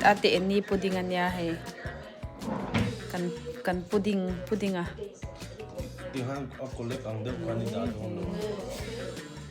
ate ni pudding ania hei kan kan pudding pudding a i han a collect ang deuh khan i dah dawn lo.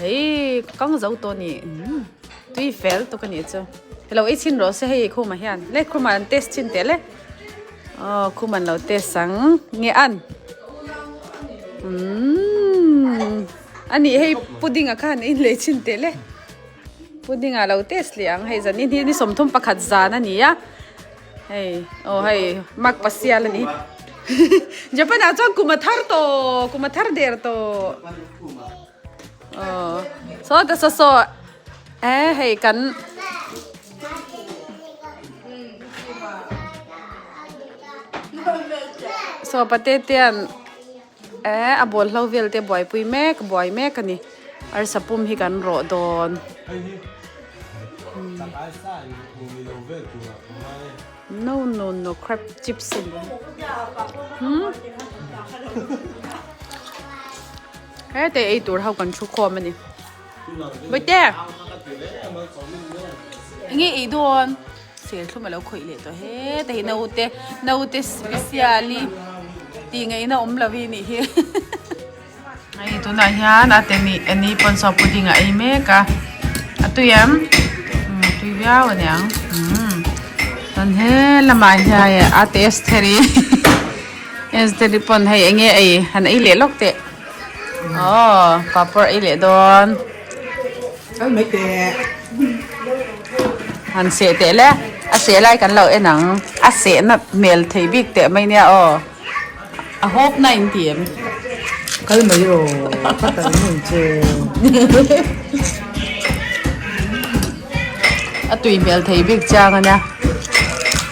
Hei ka kang zo tawh ni umm tui fel tuk a nih chu. Helo i chhin rawh se hei i khumah hian. Le khumah an test chin teh le. Aw khum an lo test ang nge an umm a nih hei pudding a kha an inlei chin teh le. Pudding a lo test leh ang hei zan ni hi ni sawmthum pakhat zan a ni a. Hei aw hei mak pasial a ni japan ah chuan kuma thar tawh kuma thar der tawh aw saw ka saw saw e hei kan saw pate tian Ehh a bawlhlo vel te buaipui mek buai mek a ni. Arsa pum hi kan rawh dawn. No no no crab chips a ni. Heta eitur ho kan thu khawm a ni. Boite! Nge ei dawn? Serthlum a lo khawih leh tawh he. Te hi naute, naute specially tih ngaihna awm lo hi nih hi. Hei tunah hian a te nih a ni pawn saw pudding a ei mek a. A tui em? Umm a tui viau a niang. Umm. Chuan he lamah hian a te Estheri, Estheri pawn hei enge ei? Han ei leh lawk teh. Aww papar ei leh dawn kal mai teh han seh teh le a seh lai kan lo en ang a seh na hmel thei bik teh mai nia aw a hawp na in ti em kal mai rawh ka tal hmun che a tui hmel thei bik chang ania.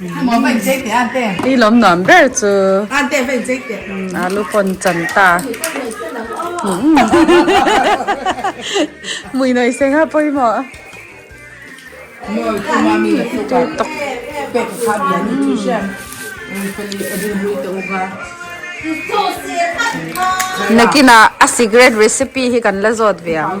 I lawm nuam ber chu alu pawn chan ta mui nawi se nga pawimawh nakin a secret recipe hi kan la zawt ve ang.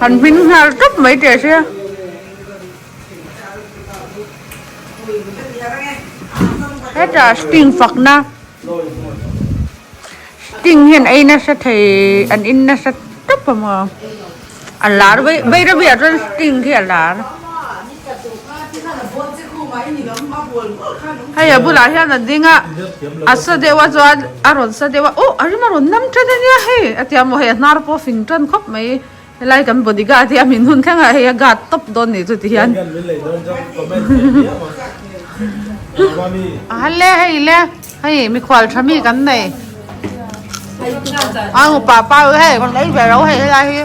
Kan hming nghal tawp mai teh che. Hetah sting fakna sting hian ei nasa thei an in nasa tawp a maw a lar vei vei reuhiah chuan sting khi a lar. Hei a bulah hian a ding a, a sa deuh a chuan a rawn sa deuh a, Awh! A rim a rawn nam tan a nia hei! a ti a maw, hei a hnar pawh a fing tan khawp mai. Helai kan body guard hi a min hun thleng a, hei a guard tawp dawn ni chuti hian. A hal le hei le, hei mikhual tha mi kan nei. Aa nupa pa hei kan ei ve lo hei helai hi.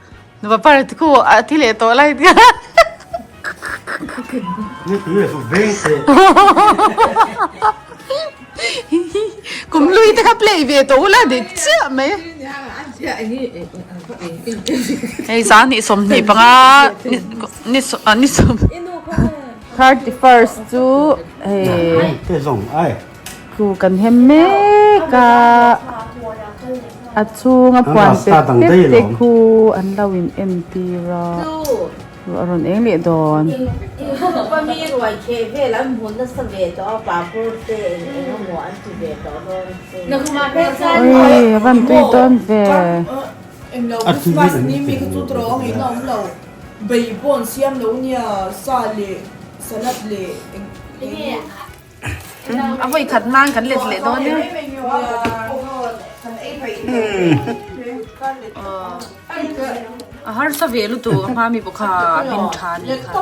Nupa par te khu a thi leh tawh lai nia. Kum lui te kha play ve tawh u la dik chiah mai. Hei zan ni sawmhnih panga ni sawm ni sawm. Thirty first chu hei. Thu kan hem mek a, a chhunga puan pek pek te khu an lo in en tir a, ruah a rawn eng leh dawn. Awii a van tui dawn ve. Avoi khat nan kan let leh dawn harsa ve lutu ka hma mi bawk a hmin tha ni kha.